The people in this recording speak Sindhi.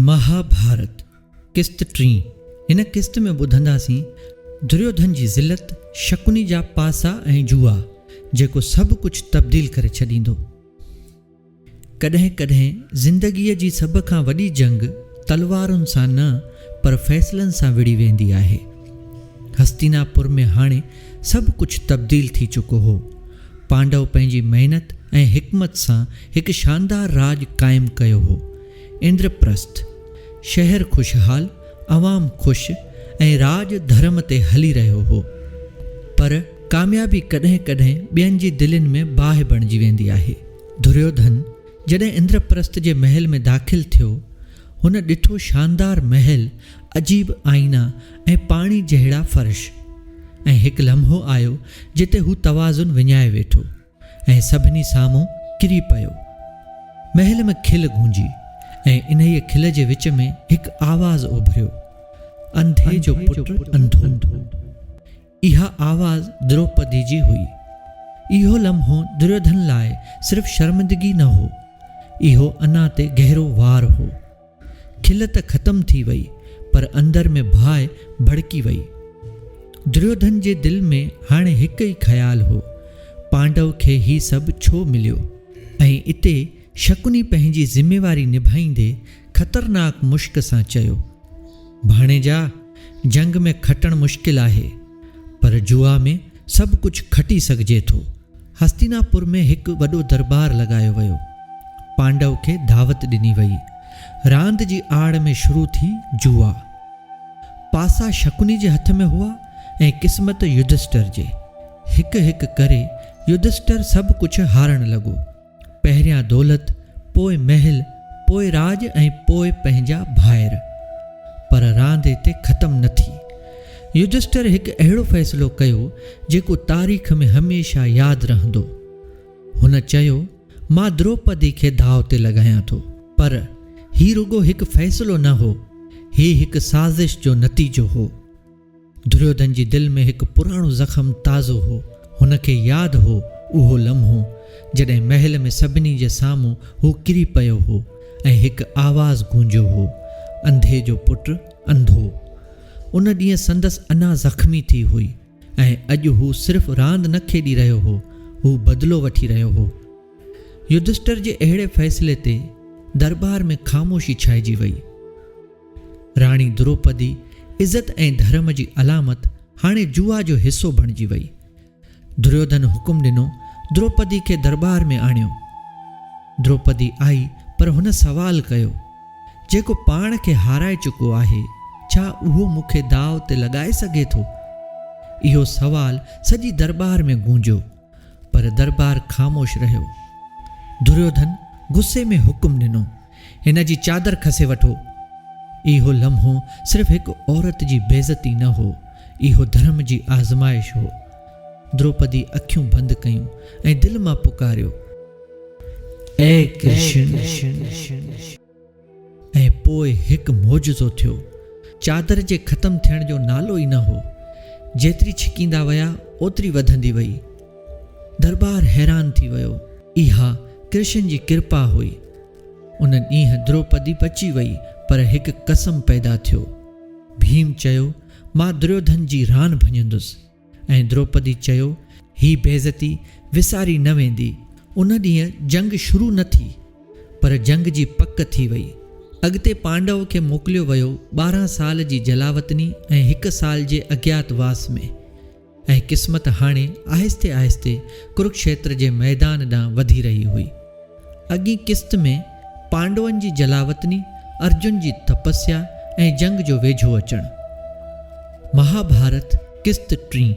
مها ڀارت قسط ٽين هن قسط ۾ ٻڌنداسين دريوڌن جي ذلت، شڪني جا پاسا ۽ جوا جيڪو سڀ ڪجهه تبديل ڪري ڇڏيندو. ڪڏهن ڪڏهن زندگيء جي سڀ کان وڏي جنگ تلوارن سان نه پر فيصلن سان وڙهي ويندي آهي. هستينا پور ۾ هاڻي سڀ ڪجهه تبديل ٿي چڪو هو. پانڊو پنهنجي محنت ۽ حڪمت سان هڪ شاندار راڄ قائم ڪيو هو. اندر پرسٿ. شهر خوشحال، عوام خوش ۽ راڄ ڌرم تي هلي رهيو هو. پر ڪاميابي ڪڏهن ڪڏهن ٻين جي دلين ۾ باهه بڻجي ويندي آهي. دوريوڌن. جڏهن اندر پرست جي محل ۾ داخل ٿيو، هن ڏٺو شاندار محل، عجيب آئينا ۽ پاڻي جهڙا فرش. ۽ هڪ لمحو آيو جتي هو توازن وڃائي ويٺو ۽ سڀني سامهون ڪري پيو. محل ۾ کل گونجي ۽ انهيء کل جي وچ ۾ هڪ آواز اڀريو، انڌي جو پٽ انڌو! اها آواز دروپدي جي هئي. اهو لمحو دريوڌن لاء صرف شرمندگي نه هو، اهو انا تي گهرو وار هو. کل ته ختم ٿي وئي، پر اندر ۾ باهه ڀڙڪي وئي. دريوڌن جي دل ۾ هاڻي هڪ ئي خيال هو، پانڊو کي هي سڀ ڇو مليو؟ ۽ اتي شڪني پنهنجي ذميواري نڀائيندي خطرناڪ مشڪ سان چيو، ڀاڻيجا! جنگ ۾ کٽڻ مشڪل آهي، پر جوا ۾ سڀ ڪجهه کٽي سگهجي ٿو. هستيناپور ۾ هڪ وڏو درٻار لڳايو ويو. پانڊو کي دعوت ڏني وئي. راند جي آڙ ۾ شروع ٿي جوا. پاسا شڪني جي هٿ ۾ هئا ۽ قسمت يڌشٽر جي. هڪ هڪ ڪري يڌشٽر سڀ ڪجهه هارڻ لڳو. پهريان دولت، پوء محل، پوء راڄ ۽ پوء پنهنجا ڀائر. پر راند اتي ختم نه ٿي. يڌشٽر هڪ اهڙو فيصلو ڪيو، جيڪو تاريخ ۾ هميشه ياد رهندو. هن چيو، مان دروپدي کي داء تي لڳايان ٿو. پر، هي رڳو هڪ فيصلو نه هو. هي هڪ سازش جو نتيجو هو. دريودن جي دل ۾ هڪ پراڻو زخم تازو هو. هن کي ياد هو اهو لمحو، جڏهن محل ۾ سڀني جي سامهون هو ڪري پيو هو ۽ هڪ آواز گونجيو هو، انڌي جو پٽ انڌو. ان ڏينهن سندس انا زخمي ٿي هئي ۽ اڄ هو صرف راند نه کيڏي رهيو هو، هو بدلو وٺي رهيو هو. يڌشٽر جي اهڙي فيصلي تي درٻار ۾ خاموشي ڇائجي وئي. راڻي دروپدي عزت ۽ ڌرم جي علامت هاڻي جوا جو حصو بڻجي وئي. دريوڌن حڪم ڏنو دروپدي کي درٻار ۾ آڻيو. دروپدي آئي پر هن سوال ڪيو، جيڪو پاڻ کي هارائي چڪو آهي، ڇا اهو مون کي داء تي لڳائي سگهي ٿو؟ اهو سوال سڄي درٻار ۾ گونجيو. پر درٻار خاموش رهيو. دريوڌن غصي ۾ حڪم ڏنو، هن جي چادر کسي وٺو. اهو لمحو صرف هڪ عورت جي بيعزتي نه هو، اهو ڌرم جي آزمائش هو. دروپدي اکيون بند ڪيون ۽ دل مان پڪاريو، اي ڪرشن! ۽ پوء هڪ معجزو ٿيو. چادر جي ختم ٿيڻ جو نالو ئي نه هو. جيتري ڇڪيندا ويا، اوتري وڌندي وئي. درٻار حيران ٿي ويو. اها ڪرشن جي ڪرپا هئي. ان ڏينهن دروپدي بچي وئي، پر هڪ قسم پيدا ٿيو. ڀيم چيو، مان دريوڌن جي ران ڀڃندس. ۽ دروپدي چيو، هي بيعزتي وساري نه ويندي. ان ڏينهن جنگ شروع نه ٿي، پر جنگ جي پڪ ٿي وئي. اڳتي پانڊو کي موڪليو ويو ٻارهن سال جي جلاوطني ۽ هڪ سال جي اجيات واس ۾. ۽ قسمت هاڻي آهستي آهستي ڪرڪشيتر جي ميدان ڏانهن وڌي رهي هئي. اڳئين قسط ۾ پانڊون جي جلاوطني، ارجن جي تپسيا ۽ جنگ جو ويجهو اچڻ. مها ڀارت، قسط ٽين.